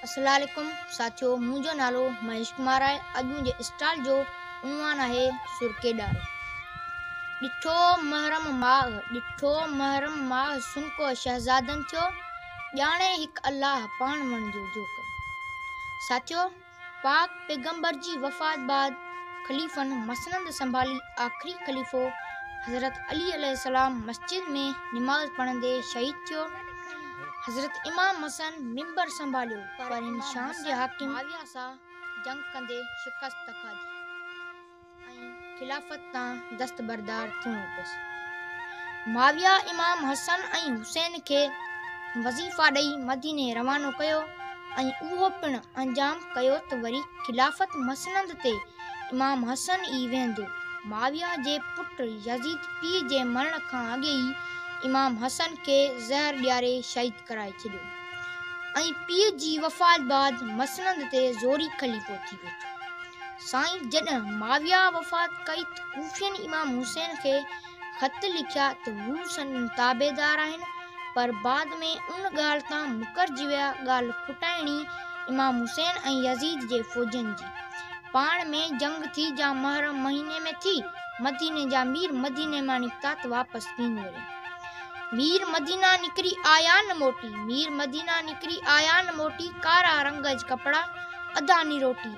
السلام عليڪم ساٿيو منهنجو نالو مهيش ڪمار آهي اڄ منهنجي اسٽال جو عنوان آهي سرڪي ڏار ڏٺو محرم ماغ ڏٺو محرم ماغ سنڪو شهزادن ٿيو ڄاڻي هڪ الله پاڻ وڻجو جو ساٿيو پاڪ پيغمبر جي وفات بعد خليفن مسند سنڀالي آخري خليفو حضرت علي عليه السلام مسجد ۾ نماز پڙهندي شهيد ٿيو حضرت امام حسن ممبر سنڀاليو پر هن شام جي حاڪم معاويه سان جنگ ڪندي شڪست کاڌي ۽ خلافت تان دستبردار ٿيڻو پيس. معاويه امام حسن ۽ حسين کي وظيفا ڏئي مديني روانو ڪيو ۽ اهو پڻ انجام ڪيو ته وري خلافت مسند تي امام حسن ئي ويهندو. معاويه جي پٽ يزيد پيء جي مرڻ کان اڳي ئي امام حسن کي زهر ڏياري شهيد ڪرائي ڇڏيو ۽ پيء جي وفات بعد مسند تي زوري خليفو ٿي ويٺو. سائين جڏهن معاويه وفات ڪئي ته ڪوفين امام حسين کي خط لکيا ته هو سندن تابعدار آهن پر بعد ۾ ان ڳالهه تان مڪرجي ويا ڳالهه ڦٽائڻي امام حسين ۽ يزيد جي فوجين جي پاڻ ۾ جنگ ٿي جا محرم مهيني ۾ ٿي مديني جا مير مديني مان نڪتا ته واپس ڪين وريا مير مدينه نڪري آيا نه موٽي مير مدينه نڪري آيا نه موٽي ڪارا رنگ ج ڪپڙا ادا ني روٽي.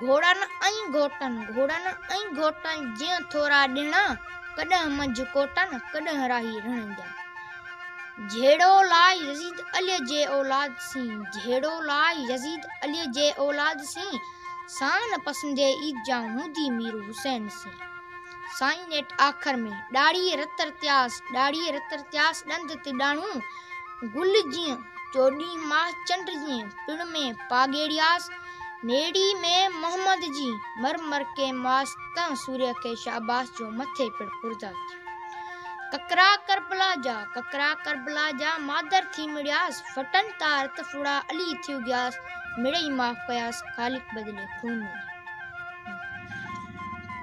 گهوڙن ۽ گهوٽن، گهوڙن ۽ گهوٽن جيئن ٿورا ڏڻا، ڪڏهن منجهه ڪوٽن، ڪڏهن راهي رڻن جا. جهيڙو لاء يزيد عليء جي اولاد سين، جهيڙو لاء يزيد عليء جي اولاد سين، سان نه پسندي عيد جا هوندي مير حسين سين. سائين نيٺ آخر ۾ ڏاڙهي رت رتياس، ڏاڙهي رت رتياس ڏند تڏاڻو، گل جيئن چوڏهين ماه چنڊ جيئن پڻ ۾ پاڳيڙياس، نيڙي ۾ محمد جي مر مر ڪي ماس تنهن سوريء کي شاباس جو مٿي پڻ پرزا ٿيو. ڪڪرا ڪربلا جا، ڪڪرا ڪربلا جا مادر ٿي مڙياس، ڦٽن تار ته ڦڙا علي ٿي اگهياس، مڙئي معاف ڪياس خالق بدلي خون ڏني.